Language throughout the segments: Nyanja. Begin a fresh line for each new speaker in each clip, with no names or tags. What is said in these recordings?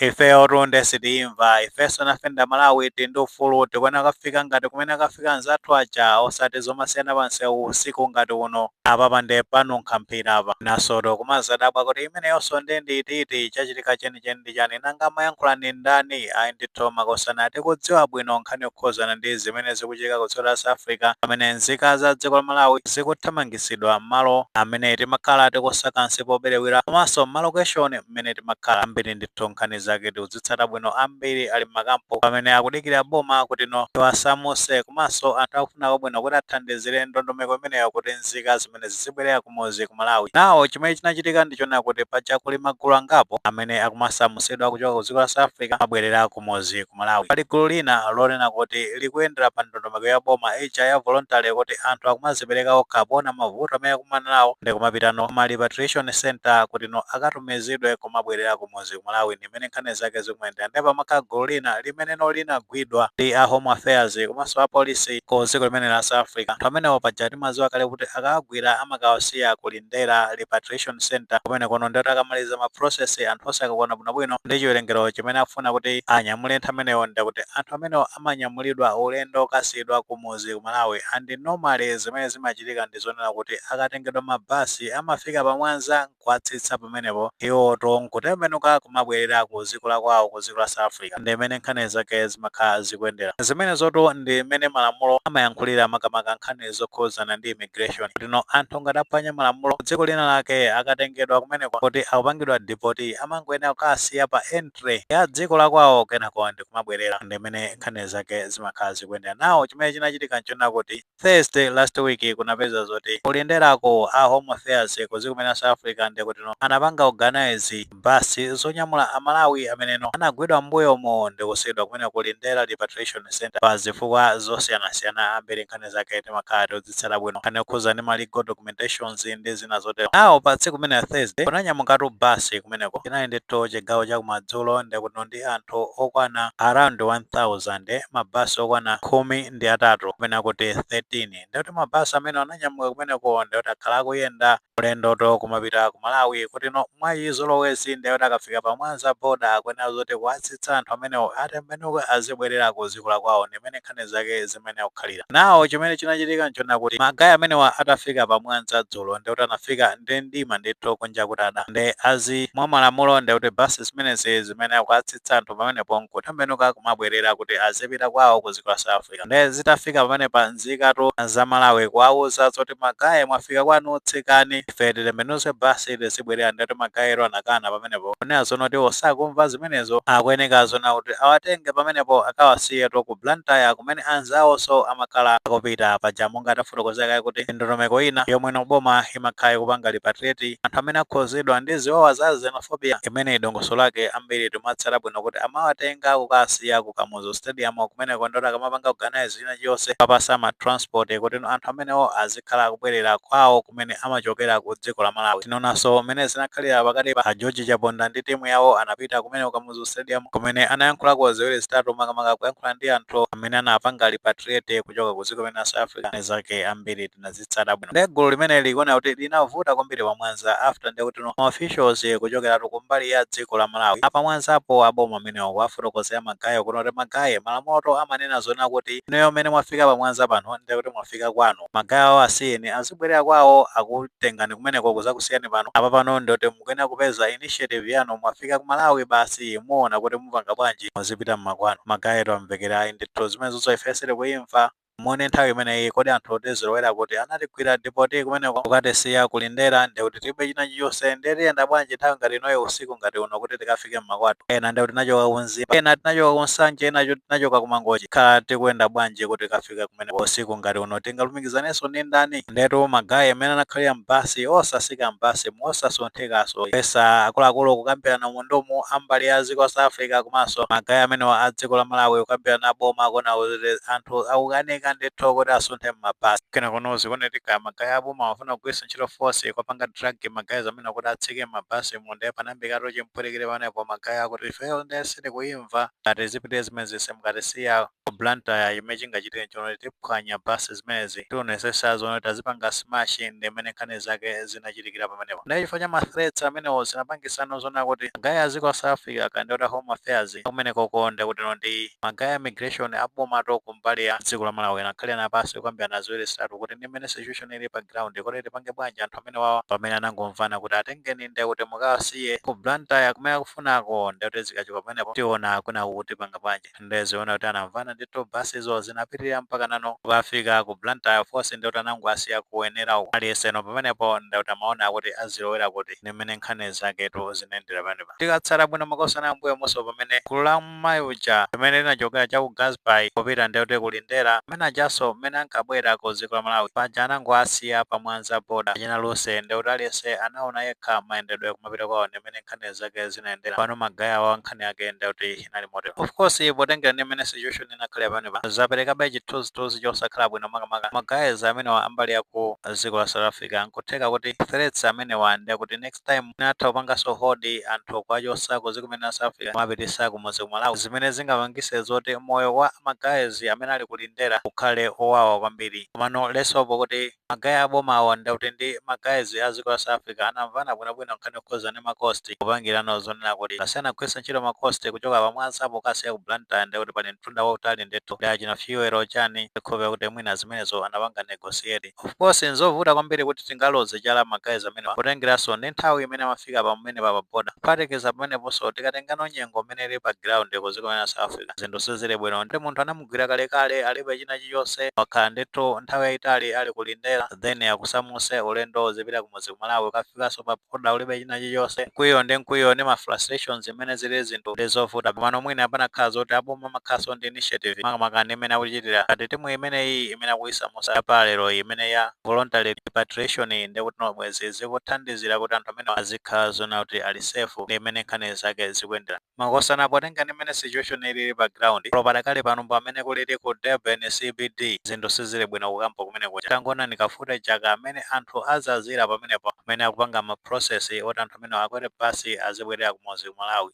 Ifeyotu nde sitiimva, ifenso nafe ndi amalawi tili ndi ufulu tikuyenera kukafika ngati kumene akafika anzathu aja osati zomasiyana pa msewu usiku ngati uno. Apapa nde panunkha mphira apa. Mwinasotu kumazadabwa kuti imeneyonso nde ndi iti iti, chachitika chenicheni ndi chani, nanga amayankhula ndi ndani? Ayi ndithu makosana tikudziwa bwino nkhani yokhuzana ndi zimene zikuchitika ku dziko la South Africa pamene nzika za dziko la Malawi zikuthamangitsidwa mmalo amene timakhala tikusaka nsipu obiriwira komanso mma location. mmene timakhala ambiri ndithu nkhani zake tikuzitsata bwino ambiri ali mmakampu pamene akudikira boma kuti no liwasamuse komanso anthu akufuna kwabwino kuti athandizire ndondomeko imeneyo kuti nzika zimene zizibwerera kumuzi ku malawi now chimene chinachitika ndichonena kuti paja kuli magulu angapo amene akumasamusidwa kuchoka ku dziko la south africa abwerera ku kumudzi ku Malawi. Pali gulu lina lonena kuti likuyendera pa ndondomeko ya boma ija ya voluntary kuti anthu akumazipereka okha poona mavuto amene akumana nawo ndikumapita no ma repatriation center kuti no akatumizidwe kumabwerera kumudzi ku Malawi ndimene nkhani zake zikumayendera ndiye pamakhala gulu lina limene no linagwidwa ndi a Home Affairs komanso a Police ku dziko limene la South Africa. Anthu amenewo paja timadziwa kale kuti akawagwira amakawasiya ku Li Ndera Repatriation Centre kumenekono ndekuti akamaliza ma process anthu onse akakwana bwinobwino nde chiwerengero chimene akufuna kuti anyamule anthu amenewo ndekuti anthu amenewo amanyamulidwa ulendo okasiyidwa kumudzi ku Malawi and normally zimene zimachitika ndi zonena kuti akatengedwa ma bus amafika pa Mwanza nkuwatsitsa pamenepo iwowotu nkutembenuka kumabwerera ku dziko la kwawo ku dziko la South Africa ndi mmene nkhani zake zimakhala zikuyendera zimenezotu ndi mmene malamulo amayankhulira makamaka nkhani zokhudzana ndi immigration kuti no anthu ngati aphwanya malamulo dziko lina lake akatengedwa kumeneko kuti akupangidwa deport amangoyenera kukawasiya pa entry ya dziko la kwawo kenako ndi kumabwerera ndimene nkhani zake zimakhala zikuyendera now chimene chinachitika nchonena kuti thursday last week kunapezeka zoti kulinderako a home affairs kudziko limene la south africa ndikutino anapanga organize bus zonyamula a Malawi ameneno anagwidwa m'mbuyomu ndikusiidwa kumene ku Lindera Repatriation Centre pa zifukwa zosiyanasiyana. Ambiri nkhani zake timakhala tikudzitsata bwino, nkhani yokhuza ndi ma legal documentations ndi zina zotero. Now pa tsiku limenelo, Thursday, kunanyamukatu bus kumeneko. Chinali ndithu chigawo cha kumadzulo ndekuti no ndi anthu okwana around 1000, ma bus okwana khumi ndi atatu kapena kuti 13. Ndekuti ma bus amene ananyamuka kumeneko ndekuti akhala akuyenda. Ulendotu kumapita ku Malawi kuti no mwa chizolowezi ndiye kuti akafika pa Mwanza border akuyenera zoti kuwatsitsa anthu amenewo atembenuke azibwerera ku dziko la kwawo ndi mmene nkhani zake zimayenera kukhalira. Now chimene chinachitika n'chonena kuti ma guy amenewa atafika pa Mwanza dzulo ndiye kuti anafika ndi mdima ndithu kunja kutada nde as mwa malamulo ndiye kuti bus zimenezi zimayenera kukatsitsa anthu pamenepo n'kutembenuka kumabwerera kuti azipita kwawo ku dziko la South zinachitika nde zitafika pamenepa nzikatu za malawi kuwauza zoti magaye mwafika kwanu tsikani ife titembenuze basi tizibwerera ndetu magayero anakana pamenepo kunena zonoti sakumva zimenezo akuyeneka zona kuti awatenge pamenepo akawasiyetu ku blantyre kumene anzawoso amakhala akupita paja monga tafotokozera kale kuti ndondomeko ina yomwe no boma imakhala ikupanga repatriate anthu amene akhuzidwa ndi ziwawa za xenophobia imene dongosolo lake ambiri timatsata bwino kuti amawatenga kukawasiya ku Kamu zu stadium kumeneko ndekuti akamapanga organise china chilichonse kuwapasa ma transport kuti anthu amenewo azikhala akubwerera kwawo kumene amachokera ku dziko la Malawi. Tinaonanso m'mene zinakhalira pakati pa a George Chaponda ndi timu yawo anapita kumeneko ku Kamuzu Stadium kumene anayankhulako ziwiri zitatu makamaka kuyankhula ndi anthu amene anapanga repatriate kuchoka ku dziko limene la South Africa. Zake ambiri tinazitsa. zitsata bwino nde gulu limeneli likuoneka kuti linavuta kwambiri pa mwanza after nde kutino ma officials kuchokeratu kumbali ya dziko la malawi a pa mwanzapo aboma amenewo kuwafotokozera magaye kunena kuti magaye malamulotu amanena zoona kuti inuyo mmene mwafika pa mwanza pano nde kuti mwafika kwanu magaye awo asiyeni azibwerera kwawo akutengani kumeneko kuzakusiyani pano apa pano nde kuti mukuyenera kupeza initiative yanu mwafika ku malawi basi muona kuti mupanga bwanji muzipita mmakwanu magayetu amvekere ayi ndithu zimene zoza ife sitikuimva Muone nthawi imeneyi kodi anthu tizilowera kuti anatigwira deport kumeneko kukatisiya ku Lindera ndiye kuti tilibe china chilichonse ndiye tiyenda bwanji nthawi ngati inoyo usiku ngati uno kuti tikafike mmakwathu ena ndiye kuti tinachoka ku Mzimba ena tinachoka ku Nsanje ena tinachoka ku Mangochi tikhala tikuyenda bwanji kuti tikafike kumeneko usiku ngati uno tingalumikizanenso ndi ndani ndetu ma guy amene anakhalira m'basi osatsika m'basimu osasunthikaso kuyesa akuluakulu kukambirana mu ndimu a mbali ya dziko la South Africa komanso magaye amenewa a dziko la Malawi kukambirana a boma akuona kuti anthu akukanika ndithu kuti asunthe m'mabasi kenakono zikuoneka kuti magaye a boma amafuna kugwiritsa ntchito force kuwapanga drag magayaz amenewa kuti atsike m'mabasimu ndiye panayambikatu chipwirikiti pamenepo magaye akuti ifeyo ndiye sitikuyimva ngati sizipita zimenezi simu katisiya ku Blantyre chimene chingachitike nchonoti tiphwanya bus zimenezi tiwonetsetsa zoona kuti tazipanga smash ndi mmene nkhani zake zinachitikira pamenepo ndiye chifukwa cha ma threats amenewo zinapangitsano zoona kuti ma guy a dziko la South Africa kaya ndiye kuti a Home Affairs akumenekoko ndiye kutino ndi ma guy a immigration a bomatu ku mbali ya dziko la Malawi anakhalirana pansi kukambirana ziwiri zitatu kuti ndi mmene situation ilili pa ground kodi tipange bwanji anthu amenewawa pamene anangomvana kuti atengeni ndiye kuti mukawasiye ku Blantyre kumene akufunako ndiye kuti zikachoka pamenepo tiona kwinaku kuti tipanga bwanji. nde zoona kuti anamvana ndithu basizo zinapitilira mpakanano kukafika ku blantyre by force ndekuti anangoasiya ku wenela uko aliyeseno pamenepo ndekuti amaona kuti azilowera kuti ndimene nkhani zaketu zinayendera pamenepa tikatsata bwino makosana mmbuyomuso pamene gulu la mmayi uja limene linachokera cha ku gasby kupita ndekuti kulindera amene ajanso mmene ankabwera ku dziko la malawi paja anangoasiya pa mwanza boda achina luse ndekuti aliyese anaona yekha mayendedwe kumapita kwawo ndimene nkhani zake zinayendera pano magaye awa nkhani yake ndekuti inali motero. Of course, potengera ndi mmene situation inakhalira pamenepa, zaperekabe chithunzithunzi chosakhala bwino makamaka ma guys amenewa a mbali ya ku dziko la South Africa. Nkutheka kuti threats amenewa ndi akuti next time mwina atha kupanganso hold anthu kuwachotsa ku dziko lino la South Africa kumapititsa kumudzi ku Malawi, zimene zingapangitse zoti moyo wa ma guys amene ali ku Lindera ukhale owawa kwambiri. Komano let's hope kuti Ma guy a boma awo ndekuti ndi ma guys a dziko la South Africa anamvana bwino bwino nkhani yokhudzana ndi ma cost popangira zonena kuti ngati sanagwiritse ntchito ma cost kuchoka pa Mwanza pokasiya ku Blantyre ndiye kuti pali mtunda wautali ndithu ndi achina fuel chani ndikhulupira kuti mwina zimenezo anapanga negotiate. Of course nzovuta kwambiri kuti tingaloze chala ma guys amenewa potengeranso ndi nthawi imene amafika pamenepa pa border. Kuphatikiza pameneponso tikatengano nyengo mmene ilili pa ground ku dziko lino la South Africa zinthu sizili bwino ndi munthu anamu anamugwira kalekale alibe china chilichonse wakhala ndithu nthawi yayitali ali ku Lindera then akusamuse ulendo uzipita kumudzi ku Malawi ukafikanso pa border ulibe china chilichonse mkwiyo ndi mkwiyo ndi ma frustrations zimene zili zinthu ndi zovuta komano mwina pakanakhala zoti aboma akumakhalanso ndi initiative makamaka ndi mmene akuchitira ngati timu imeneyi imene akuyisamusa pa lero iyi imene ya voluntary repatriation iyi ndekutino bwezi zikuthandizira kuti anthu amene azikhala zoona kuti ali safe ndi mmene nkhani zake zikuyendera. Makosana potenga ndi mmene situation ilili pa ground olo padakali pano ndi mmene kulili ku Durban CBD zinthu sizili bwino ku camp kumene kuja tangoonani ka footage ka mmene anthu azazila pamenepa amene akupanga ma process oti anthu amenewa akwele bus azibwelela kumudzi ku Malawi.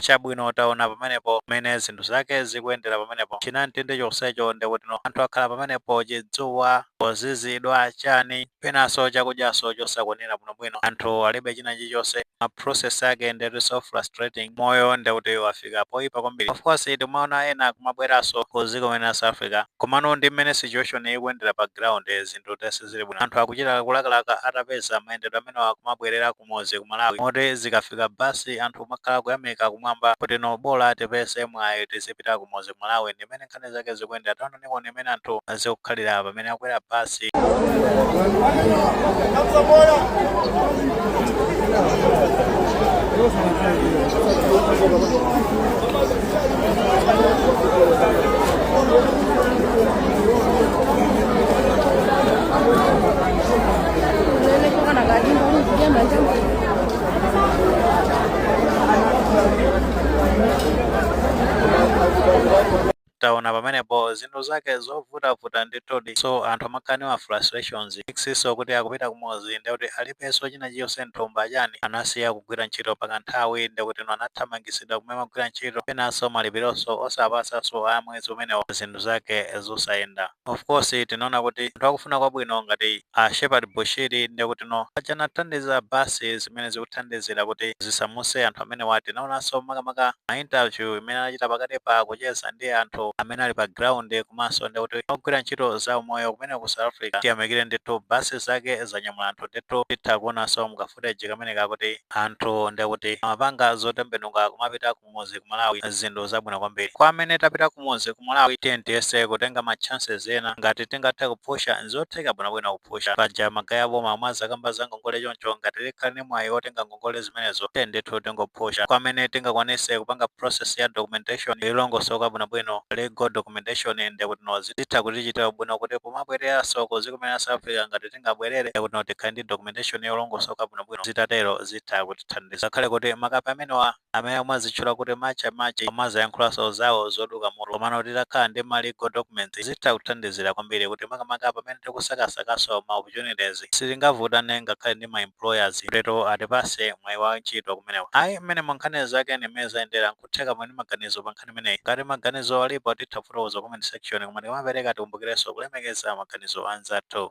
chabwino taona pamenepo mmene zinthu zake zikuyendera pamenepo chinamtindi chonsecho ndekutino anthu akhala pamenepo chidzuwa kuzizidwa chani penanso chakudyanso chosakwanira bwinobwino anthu alibe china chilichonse ma process ake ndekutinso frustrating moyo ndekuti wafika poyipa kwambiri of course tikumaona ena akumabweranso ku dziko lino la South Africa komano ndi mmene situation ikuyendera pa ground zinthu then sizili bwino anthu akuchita kulakalaka atapeza mayendedwe amenewa kumabwerera kumudzi ku Malawi moti zikafika bus anthu kumakhala kuyamika kumwamba kutino bola tipeze mwayi tizipita kumudzi ku Malawi ndi mmene nkhani zake zikuyendera taonani Nuone mmene anthu azikukhalira pamene akwera basi. taona pamenepo zinthu zake zovutavuta ndithudi so anthu amakhala ndi ma frustrations ex so kuti akupita kumudzi ndekuti alibeso china chilichonse mthumba chani anasiya kugwira ntchito pakanthawi ndekutino anathamangitsidwa kumene amagwira ntchito penaso malipiroso osawapatsaso a mwezi umenewo zinthu zake zosayenda Of course tinaona kuti anthu akufuna kwabwino ngati a Shepherd Bushiri ndekutino paja anathandiza bus zimene zikuthandizira kuti zisamuse anthu amenewa tinaonanso makamaka ma interview imene anachita pakatipa kucheza ndi anthu amene ali pa ground komanso ndekuti ogwira ntchito za umoyo kumeneko ku South Africa tiyamikire ndithu bus zake zanyamula anthu ndithu titha kuonanso m'ka footage kameneka kuti anthu ndekuti amapanga zotembenuka kumapita kumuzi ku Malawi zinthu zabwino kwambiri. Kwa amene tapita kumuzi ku Malawi tiyeni tiyese kutenga ma chances ena ngati tingathe kuphusha nzotheka bwinobwino kuphusha. Paja magaye aboma amwazakamba za ngongole choncho ngati tikhala ndi mwayi wotenga ngongole zimenezo tiyeni ndithu tingophusha. Kwa amene tingakwanise kupanga process ya documentation yolongosoka bwinobwino, legal documentation, ndekutino zitha kutichitira ubwino kuti pomabwereranso kuziko limeneli la South Africa ngati tingabwerere ndekutino tikhale ndi documentation yolongosoka bwinobwino zitatero zitha kutithandiza. Ngakhale kuti makape amenewa. amene akumazitchula kuti March and March akumazayankhulanso zawo zoduka mutu komano titakhala ndi ma legal documents zitha kuthandizira kwambiri kuti makamaka pamene tikusakasakanso ma opportunities sitingavutane ngakhale ndi ma employers kuteroko atipase mwayi wa ntchito kumeneko ayi mmenemu nkhani zake ndi mmene zayendera nkutheka muli ndi maganizo pa nkhani imeneyi ngati maganizo alipo titha kufotokoza comment section koma tikamapereka tikumbukirenso kulemekeza maganizo a anzathu.